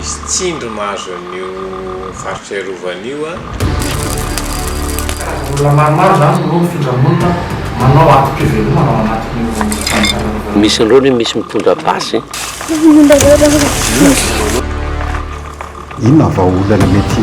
Misy tsindry mahazo an'io faritra iarovana io an. Olona maromaro izany no mifindra monina manao antom-pivelomana ao anatin'io faritra iarovana io. Misy indroa anie misy mitondra basy. Inona va olana mety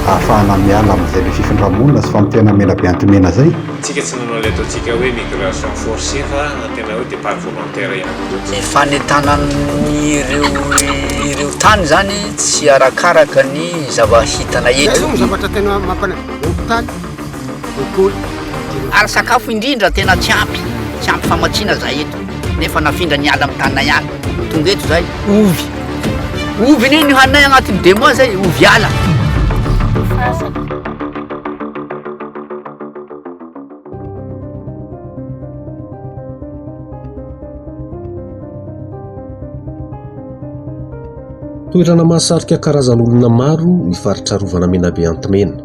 ahafahana miala amin'izay be fifindra-monina sy famoteana mena be anti-mena izay? Tsika tsy nanao ilay ataontsika hoe migration forcée fa tena hoe départ volontaire ihany koa. Ny fanentanan'ireo tany izany tsy arakaraka ny zava-hitana eto. Izay no zavatra tena mampanahivy, hopitaly, lekôly, dia ny. Ary sakafo indrindra tena tsy ampy, tsy ampy famatsiana za eto. Nefa nafindra niala amin'ny taninay any. Tonga eto zay, ovy. Ovy anie ny haninay agnatin'ny deux mois zay, ovy ala. Toerana mahasarika karazan'olona maro ny faritra arovana Menabe Antimena.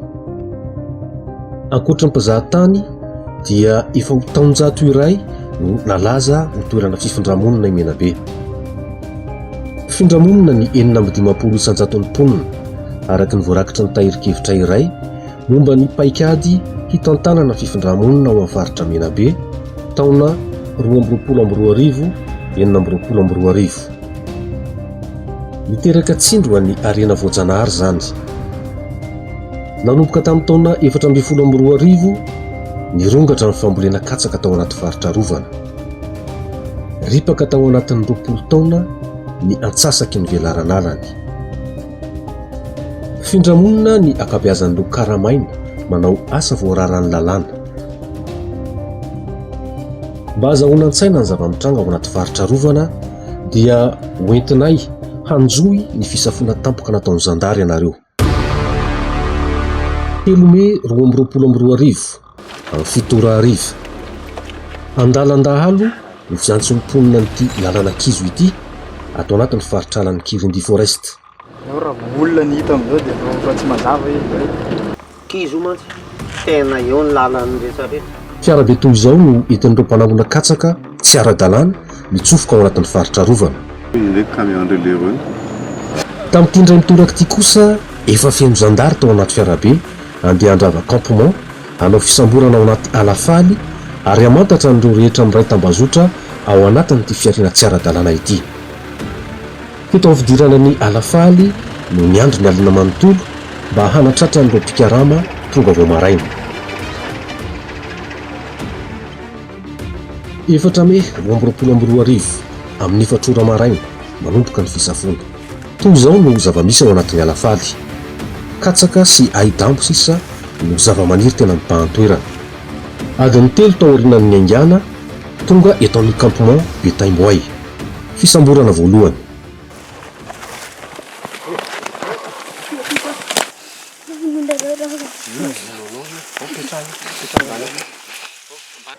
Ankoatry ny mpizahatany, dia efa ho taonjato iray no nalaza ho toerana fifindra-monina i Menabe. Fifindra-monina ny enina amby dimampolo isan-jaton'ny mponina, araka ny voarakitra ny tahirin-kevitra iray momba ny paikady hitantanana fifindra-monina ao amin'ny faritra Menabe, taona roa amby roapolo amby roa arivo, enina amby roapolo amby roa arivo. Niteraka tsindry ho an'ny harena voajanahary izany. Nanomboka tamin'ny taona efatra ambin'ny folo amby roa arivo, nirongatra ny fambolena katsaka tao anaty faritra arovana. Ripaka tao anatin'ny roapolo taona ny antsasaky ny velaran'alany. Mifindra monina ny ankabeazan'ireo karamaina manao asa voararan'ny lalàna. Mba hazahoana an-tsaina ny zava-mitranga ao anaty faritra arovana dia hoentinay hanjohy ny fisafoana tampoka nataon'ny zandary ianareo. Telo mey roa amby roapolo amby roa arivo, amin'ny fito ora hariva. Andalan-dahalo ny fiantson'ny mponina an'ity lalana kizo ity ato anatin'ny faritr'alan'i Kirindi Forest. Eo raha olona ny hita amin'izao dia efa tsy mazava izy hoe. Kizo io mantsy tena eo ny lalan'ny rehetra rehetra. Fiara be toy izao no entin'ireo mpanao olona katsaka tsy ara-dalàna mitsofoka ao anatin'ny faritra arovana. Tamin'ity indray mitoraka ity kosa, efa feno zandary tao anaty fiarabe, handeha handrava campement, hanao fisamborana ao anaty ala faly ary hamantatra an'ireo rehetra miray tambazotra ao anatin'ity fihariana tsy ara-dalàna ity. Teto amin'ny fidirana ny ala faly no niandry ny alina manontolo mba hanatratra an'ireo mpikarama tonga vao maraina. Efatra mey roa amby roapolo amby roa arivo, amin'ny efatra ora maraina, manomboka ny fisafoana. Toy izao no zava-misy ao anatin'ny ala faly. Katsaka sy ahi-dambo sisa no zava-maniry tena mibahan-toerana. Adiny telo taorianan'ny niaingàna, tonga eto amin'ny Campement Betaimboay. Fisamborana voalohany.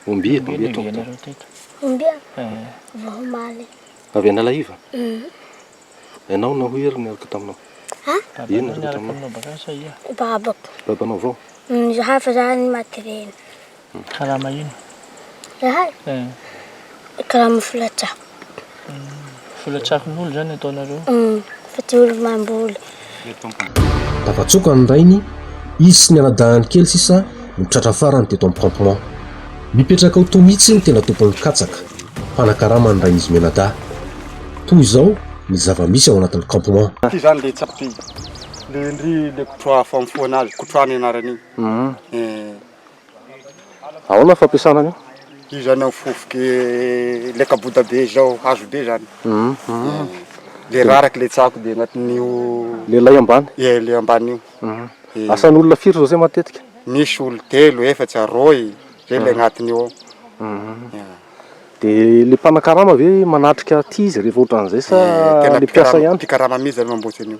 Omby eto, omby eto. Omby eto. Omby avy ao Maly. Avy Analaiva? Uhm. Ianao no nahoy ery niaraka taminao. Ha? Ino no niaraka taminao bakany sa ia? Babako. Babanao vao? Ny zahay fa zahay no maty reny. Karama ino? Zahay? Eh. Karama filatsako. Filatsakon'olo zany ataonareo? Umm, fa tsy olo mamboly. Tafatsoaka ny rainy, izy sy ny anadahiny kely sisa no tratra farany teto amin'ny campement. Mipetraka ao toa mihitsy ny tena tompon'ny katsaka, mpanakarama ny rain'izy mianadahy. Toa izao ny zava-misy ao anatin'ny campement. Ity izany ilay tsatoka iny, ilay ndry ilay kotroha famofoana azy, kotroha ny anarany iny. Ahoana ny fampiasana an'io? Io zany an fofoky le kaboda be zao, hazo be zany, le raraka le tsako de agnatin'io, le lay ambany, ie le ambany io, asan'olona firy zao zay matetika? Misy olo telo, efatsy, aroy, zay le agnatiny eo ao. De le mpanakarama ve manatrika aty izy rehefa otran'izay sa le mpiasa ihany? Mpikarama mihitsy zany mamboatry an'io.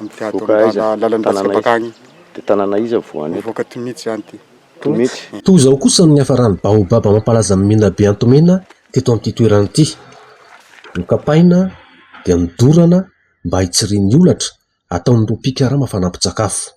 Mivoaka aiza? Tanàna aiza? Tanàna iza voany eto? Mivoaka Tomitsy zany ty. Tomitsy? Toa izao kosa ny niafaran'ny baobab mampalaza an'i Menabe Antomena teto amin'ity toerana ity. Nokapaina dia nodorana mba hitsirian'ny holatra ataon'ireo mpikarama fanampin-tsakafo.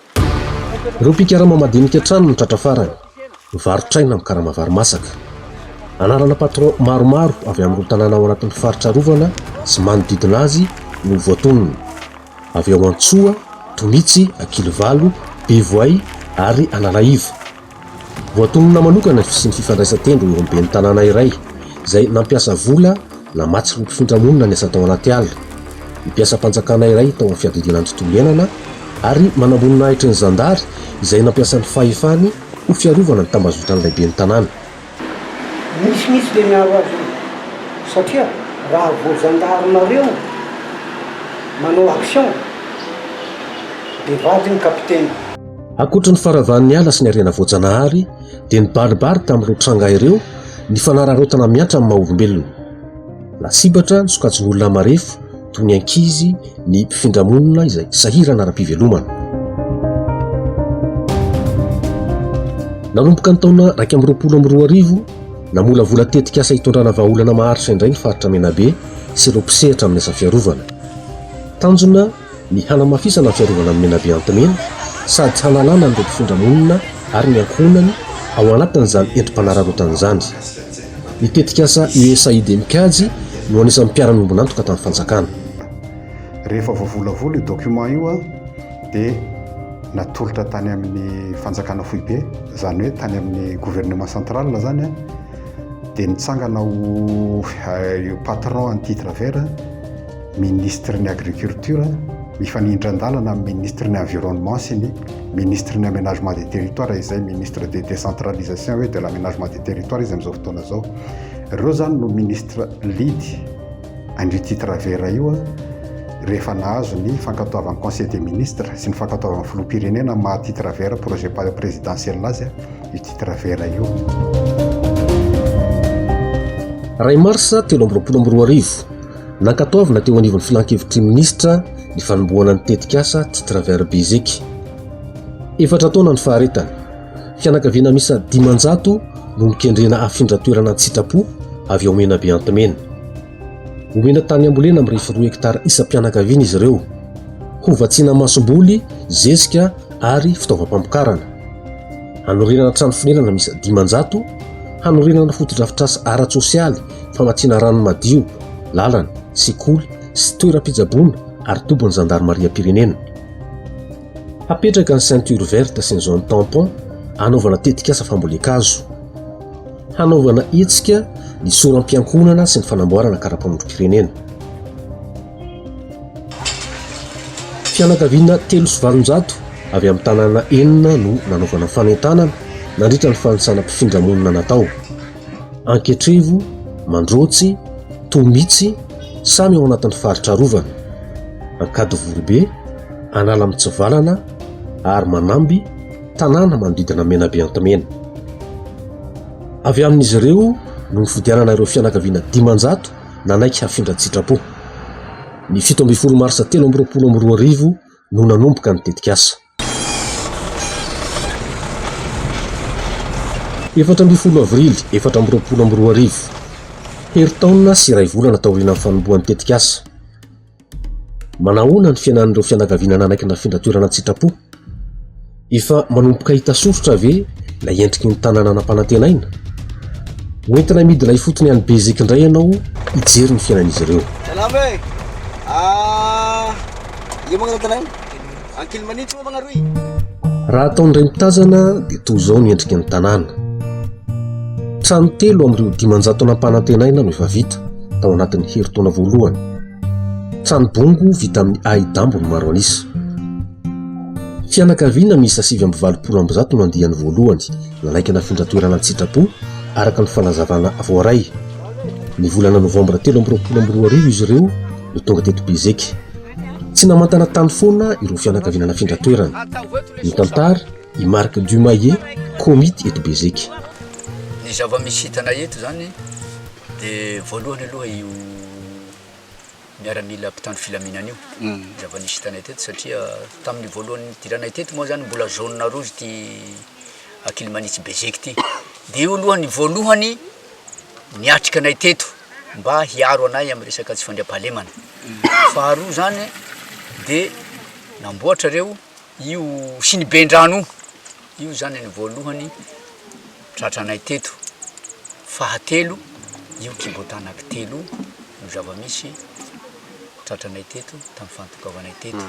Ireo mpikarama madinika hatrany no tratra farany. Varotr'aina amin'ny karama vary masaka. Anarana patron maromaro avy amin'ireo tanàna ao anatin'ny faritra arovana sy manodidina azy no voatonona. Avy ao Antsoa, Tomitsy, Ankilivalo, Bevoay ary Analaiva. Voatonona manokana ny fisian'ny fifandraisan-tendro eo amin'ny ben'ny tanàna iray izay nampiasa vola namatsy ny mpifindra monina niasa tao anaty ala, ny mpiasam-panjakana iray tao amin'ny fiadidiana ny tontolo iainana ary manamboninahitry ny zandary izay nampiasa ny fahefany ho fiarovana ny tambazotran'ilay ben'ny tanàna. Misy mihitsy le miaro azy io satria raha vao zandary nareo manao action de vadiny kapiteny. Ankoatry ny faravan'ny ala sy ny harena voajanahary dia nibaribary tamin'ireo tranga ireo ny fanararaotana mihatra amin'ny maha-olombelona. Lasibatra ny sokajin'olona marefo toy ny ankizy, ny mpifindra monina izay sahirana ara-pivelomana. Nanomboka ny taona iraika amby roapolo amby roa arivo, namolavola tetikasa hitondrana vahaolana maharitra indray ny faritra Menabe sy ireo mpisehatra amin'ny asa fiarovana. Tanjona ny hanamafisana ny fiarovana an'i Menabe Antimena sady hanalana an'ireo mpifindra monina ary ny ankohonany ao anatin'izany endri-panararaotana izany. Ny tetikasa USAID Mikajy no anisan'ny mpiara-miombon'antoka tamin'ny fanjakana. Rehefa voavolavola io document io dia natolotra tany amin'ny fanjakana foibe, izany hoe tany amin'ny gouvernement central izany, dia nitsangana ho patron an'i Titre Vert, Minisitry ny Agriculture mifanindran-dalana amin'ny Minisitry ny Environnement sy ny Minisitry ny Aménagement des Territoires izay Ministre de Décentralisation et de l'Aménagement des Territoires izy amin'izao fotoana izao. Ireo izany no Ministre lead an'io titre vert io rehefa nahazo ny fankatoavan'ny Conseil des Ministres sy ny fankatoavan'ny Filoham-pirenena amin'ny maha titre vert projet présidentiel azy io titre vert io. Ray Marsa telo amby roapolo amby roa arivo, Nankatoavina teo anivon'ny Filan-kevitry ny Minisitra ny fanombohana ny tetikasa Titre Vert Beziky. Efatra taona ny faharetany. Fianakaviana miisa dimanjato no nokendrena hafindra toerana an-tsitrapo avy ao Menabe Antimena. Homena tany ambolena mirefy roa hektara isam-pianakaviana izy ireo. Hovatsiana masomboly, zezika ary fitaovam-pamokarana. Hanorenana trano fonenana miisa dimanjato, hanorenana fotodrafitrasa ara-tsosialy famatsiana rano madio, lalana, sekoly sy toeram-pitsaboana ary tobin'ny zandarimariam-pirenena. Hapetraka ny ceinture verte sy ny zone tampon hanaovana tetikasa fambolen-kazo. Hanaovana hetsika ny soram-piankohonana sy ny fanamboarana karapanondrom-pirenena. Fianakaviana telo sy valonjato avy amin'ny tanàna enina no nanaovana fanentanana nandritra ny fanisana mpifindra monina natao. Anketrivo, Mandrotsy, Tomitsy, samy ao anatin'ny faritra arovana. Ankadivoribe, Analamitsivalana ary Manamby, tanàna manodidina Menabe Antimena. Avy amin'izy ireo no nifidianana ireo fianakaviana dimanjato nanaiky hafindra an-tsitrapo. Ny fito ambin'ny folo marsa telo amby roapolo amby roa arivo no nanomboka ny tetikasa. Efatra ambin'ny folo avrily efatra amby roapolo amby roa arivo, herintaona sy iray volana taorianan'ny fanombohan'ny tetikasa Manahoana ny fiainan'ireo fianakaviana nanaiky ny rafindra toerana an-tsitrapo? Efa manomboka hita soritra ve ilay endriky ny tanàna nampanantenaina? Hoentina midina ifotony any Beziky indray ianao hijery ny fiainan'izy ireo. Salama e! Ah, iza moa ny tanàna? Ankilimanintsy moa magnaro i. Raha atao indray mitazana dia toa izao ny endriky ny tanàna. Trano telo amin'ireo dimanjato nampanantenaina no efa vita tao anatin'ny herintaona voalohany. Trano bongo vita amin'ny ahi-dambo no maro an'isa. Fianakaviana miisa sivy amby valopolo amby zato no andiany voalohany nanaiky nafindra toerana an-tsitrapo araka ny fanazavana voaray. Ny volana novambra telo amby roapolo amby roa arivo izy ireo no tonga teto Bezeky. Tsy namantana tany foana ireo fianakaviana nafindra toerana. Nitantara i Marc Dumaillet, Komity eto Bezeky. Ny zava-misy hitanay eto izany dia voalohany aloha io miaramila mpitandro filaminana io. Mm. Zava-nisy hitanay teto satria tamin'ny voalohany nidiranay teto moa izany mbola zone rouge ity Akilimanitsy Bezeky ity. Dia io aloha ny voalohany niatrika anay teto. mba hiaro anay amin'ny resaka tsy fandriampahalemana. Faharoa izany dia namboatra ireo io siniben-drano io, io izany ny voalohany tratranay teto. Fahatelo, io kibotanak'i Telo io no zava-misy. tratranay teto, tamin'ny fantokavanay teto,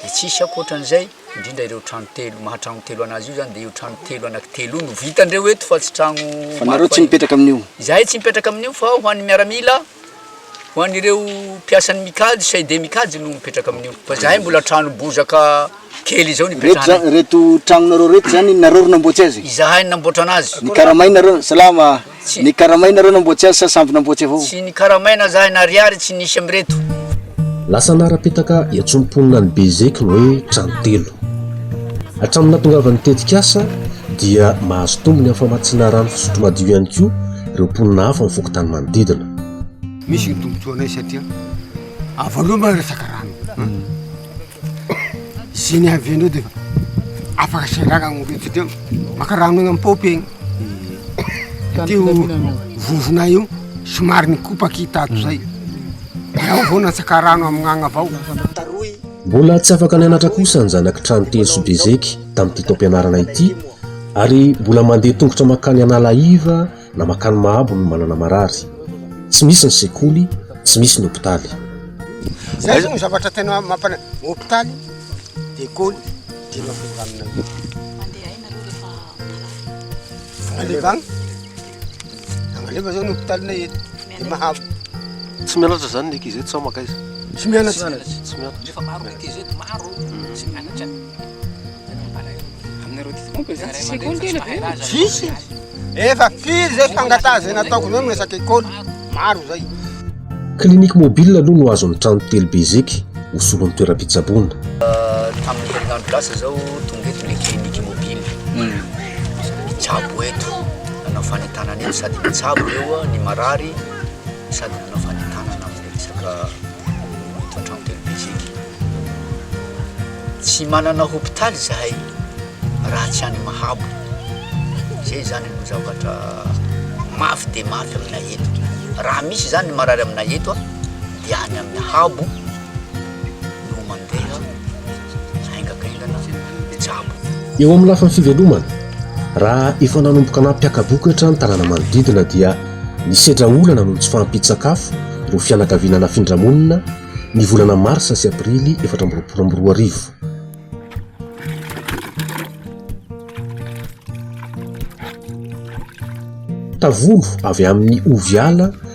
dia tsisy ankoatra an'izay, indrindra ireo trano telo, maha trano telo an'azy io zany, dia io trano telo anaky telo io no vitan-dreo eto fa tsy trano maro fahiny. Fa nareo tsy mipetraka amin'io? Izahay tsy mipetraka amin'io fa ho an'ny miaramila, ho an'ireo mpiasan'ny Micad, CID Micad no mipetraka amin'io, fa izahay mbola trano bozaka kely izao no ipetrahanay. Ireto, ireto tranonareo ireto zany nareo no namboatsy azy? Izahay no namboatra an'azy. Nikaramainareo, salama. Tsy nikaramaina ireo namboatsy azy sa samby namboatsy avao? Tsy nikaramaina za na ariary tsy nisy amireto. Lasa nara-petaka etsy am-ponina an'i Bezeky ny hoe trano telo. Hatramin'ny nahatongavan'ny tetikasa dia mahazo tombony amin'ny famatsiana rano fisotro madio ihany koa ireo mponina hafa amin'ny fokontany manodidina. Misy ny tombontsoanay satria avo loha moa resaka rano. Zay ny avy andreo de efa afaka asandrarana ny olona satria maka rano eny am-paopy eny. Tany Teo filaminana. vovona io somary nikopaka i tato zay. Ao vao natsaka rano amin'agny avao. Mbola tsy afaka nianatra kosa ny zanak'i Tranotelo sy Bezeky tamin'ity taom-pianarana ity ary mbola mandeha tongotra mankany Analahiva Na makany mahabo no manana marary. Tsy misy ny sekoly, tsy misy ny hopitaly. Zay zao ny zavatra tena mampana, hopitaly, lekôly, dia mampinganina io. Mandeha aina aloha rehefa marary. Aleva agny. Agnaleva zao ny hopitalinay eto. Dia mahabo. Tsy mianatra zany ny ankizy eto sa makaiza? Tsy mianatra. Tsy mianatra. Rehefa maro ny ankizy eto, maro, tsy mianatra. Tsisy e! Efa firy zay fangataha zay nataoko zay miresaka école, maro zay. Clinique mobile aloha no azon'ny trano telo be zeky ho solon'ny toeram-pitsaboana. Tamin'ny herinandro lasa izao tonga eto ilay clinique mobile. Nitsabo eto, nanao fanentanana eto sady nitsabo ireo ny marary sady nanao fanentanana. Resaka eto an-trano telo be isika. Tsy manana hopitaly izahay raha tsy any Mahabo. Izay izany no zavatra mafy dia mafy aminay eto. Raha misy izany ny marary aminay eto dia any amin'ny Habo no mandeha. Eo amin'ny lafiny fivelomana, raha efa nanomboka nampiaka-bokatra ny tanàna manodidina dia nisedra olana noho ny tsy fahampian-tsakafo ireo fianakaviana nafindra monina ny volana marsa sy aprily efatra amby roapolo amby roa arivo. Tavolo avy amin'ny Oviala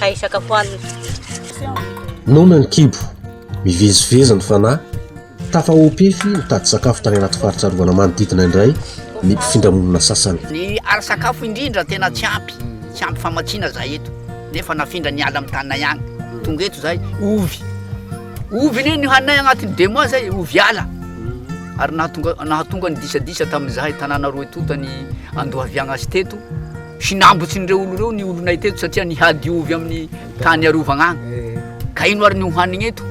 ka isaka ho alina. Noana ny kibo, mivezivezy ny fanahy, tafahopefy nitady sakafo tany anaty faritra arovana manodidina indray ny mpifindramonina sasany. Ny ary sakafo indrindra tena tsy ampy, tsy ampy famatsiana zay eto, nefa nafindra ny ala mitanay agny, tonga eto zay, ovy, ovy ne ny hanay agnatin'ny deux mois zay, ovy ala, ary nahatonga nahatonga ny disadisa tamin'izay tanàna roe tonta ny andohaviagna azy teto, Hinambotsin'ireo olona ireo ny olonay teto satria nihady ovy amin'ny tany arovagna agny. Ka ino ary ny hohanigny eto?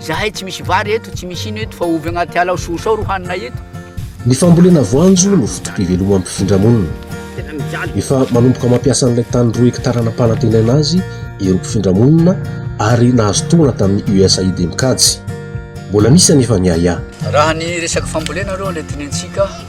Izahay tsy misy vary eto, tsy misy ino eto fa ovy agnaty ala ao sosoa ao ro haninay eto. Ny fambolena voanjo no foto-pivelomam-pifindramonina. Efa manomboka mampiasa an'ilay tany roa hektara nampanantenaina azy ireo mpifindramonina ary nahazo tohana tamin'ny USAID mikajy. Mbola misy anefa ny ahiahy. Raha ny resaky fambolena aloha ilay tenentsika,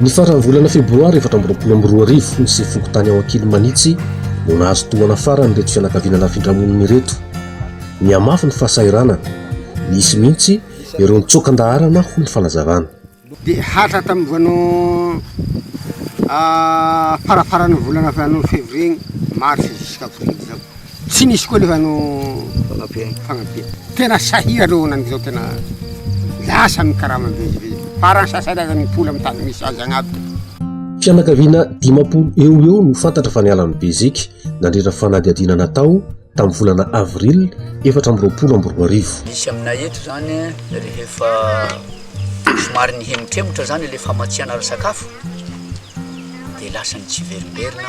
Ny faran'ny volana febroary efatra amby roapolo amby roa arivo, ny sefon-kontany ao Ankilimanitsy no nahazo tohana farany ireto fianakaviana nafindramonina ireto. Nihamafy ny fahasahiranana. Nisy mihitsy ireo nitsoaka an-daharana, hoy ny fanazavana. Dia hatra tamin'ny voaloha farafaran'ny volana fevrier igny, mars, jusqu'à avril izao. Tsy nisy koa nefa no fagnabeany fagnabeany tena sahira reo nany zao tena lasa ny karama vezivezy fa raha ny sasany aza mipoly amin'ny tany misy azy agny aby de Fianakaviana dimampolo eo ho eo no fantatra fa niala an'i Beziky nandritra fanadihadiana natao tamin'ny volana avril efatra amby roapolo amby roa arivo. Misy aminay eto izany rehefa somary nihemotremotra izany ilay famatsiana ara-sakafo dia lasa nitseverimberina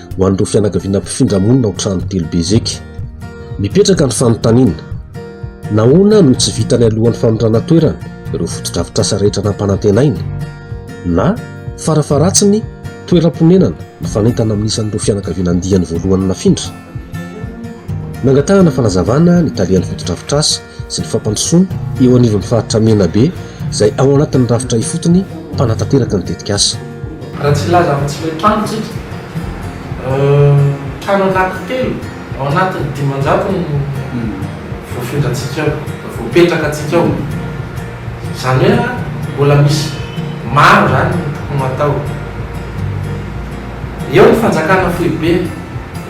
ho an'ireo fianakaviana mpifindra monina ao trano telo be zeky. Mipetraka ny fanontaniana, nahoana no tsy vitany alohan'ny fanondrana toerana ireo fotodrafitrasa rehetra nampanantenaina? Na farafaharatsiny toeram-ponenana mifanentana amin'ny isan'ireo fianakaviana andiany voalohany nafindra? Nangatahana fanazavana ny tale an'ny fotodrafitrasa sy ny fampandrosoana eo anivon'ny faritra Menabe izay ao anatin'ny rafitra ifotony mpanatanteraka ny tetikasa. Raha tsy hilaza amin'ny tsy miantrano isika, trano anankitelo ao anatin'ny dimanjato no voafindrantsika ao, voapetraka antsika ao. Izany hoe mbola misy maro izany no tokony ho atao. Eo ny fanjakana foibe,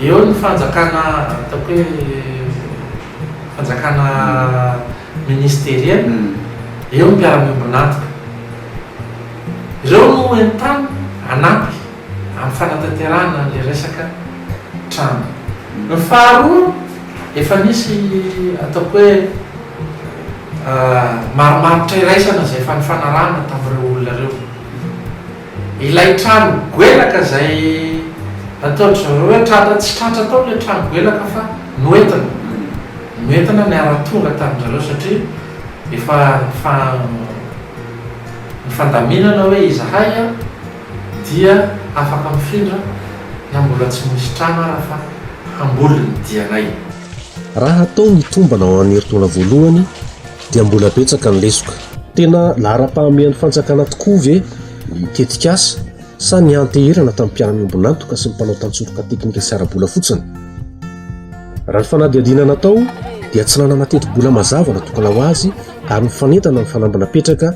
eo ny fanjakana ataoko hoe. fanjakana ministeriel, eo ny mpiara-miombon'antoka. Ireo no entanina hanampy amin'ny fanatanterahana an'ilay resaka trano. Ny faharoa, efa nisy ataoko hoe marimaritra iraisana izay efa nifanarahana tamin'ireo olona ireo. Ilay trano goelaka izay nataon-dry zareo hoe tratra, tsy tratra tao ilay trano goelaka fa noentina, noentina niara-tonga tamin-dry zareo satria efa nifa, nifandaminana hoe izahay dia afaka mifindra na mbola tsy misy trano ara fa hamboly ny dianay. Raha atao ny tombana ao amin'ny herintaona voalohany, dia mbola betsaka ny lesoka. Tena laharam-pahamehan'ny fanjakana tokoa ve ny tetikasa sa nianteherana tamin'ny mpiara-miombon'antoka sy ny mpanao tantsoroka teknika sy ara-bola fotsiny? Raha ny fanadihadiana natao dia tsy nanana tetibola mazava natokana ho azy ary mifanentana amin'ny fanamby napetraka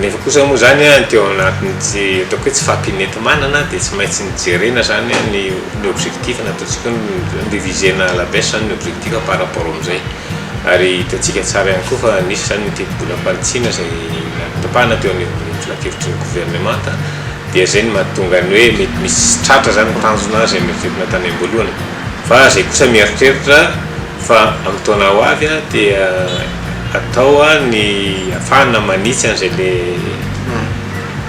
Nefa kosa moa izany ny teo anatin'ny tsy ataoko hoe tsy fahampianenti-manana dia tsy maintsy ny jerena izany ny ny objectif na ataontsika hoe ny reviser-na à la baisse izany ny objectif par rapport amin'izay. Ary hitantsika tsara ihany koa fa nisy izany ny tetibolam-panitsiana izay notapahana teo anivon'ny filankevitry ny governemanta dia izay no mahatonga ny hoe mety misy tratra izany ny tanjona izay noeritreretina tany am-boalohany. Fa izay kosa mieritreritra Fa amin'ny taona ho avy dia atao ny afahana manitsy an'izay le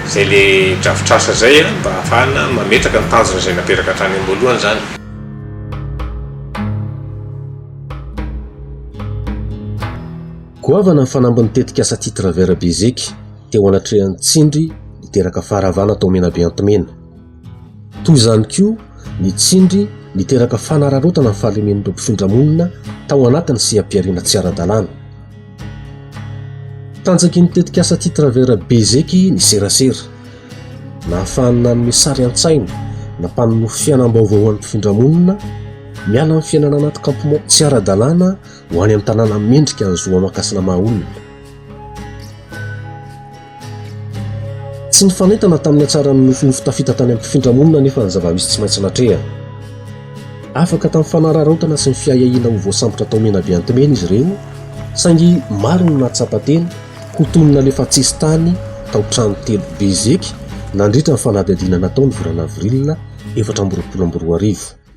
izay le drafitr'asa izay mba afahana mametraka ny tanjona izay napetraka hatrany am-boalohany izany. Goavana ny fanambin'ny tetikasa Titre Vert Beziky teo anatrehan'ny tsindry niteraka faharavana tao Menabe Antimena. Toy izany koa ny tsindry niteraka fanararaotana ny fahalemen'ireo mpifindra monina tao anatin'ny seha-pihariana tsy ara-dalàna. Tanjaky ny tetikasa Titraver Bezeky ny serasera. Nahafahany nanome sary an-tsaina na mpanonofy fiainam-baovao ho an'ny mpifindra monina miala amin'ny fiainana anaty kampmon tsy ara-dalàna ho any amin'ny tanàna mendrika ny zo aman-kasina maha olona. Tsy nifanentana tamin'ny hatsaran'ny nofinofy tafita tany amin'ny mpifindramonina anefa ny zava-misy tsy maintsy natrehana. Afaka tamin'ny fanararaotana sy ny fiahiahiana ho voasambotra tao Menabe Antimena izy ireo, saingy maro no nahatsapa tena ho toy ny nalefa tsisy tany tao trano telo be zeky nandritra ny fanadihadiana natao ny volana avril efatra amby roapolo amby roa arivo.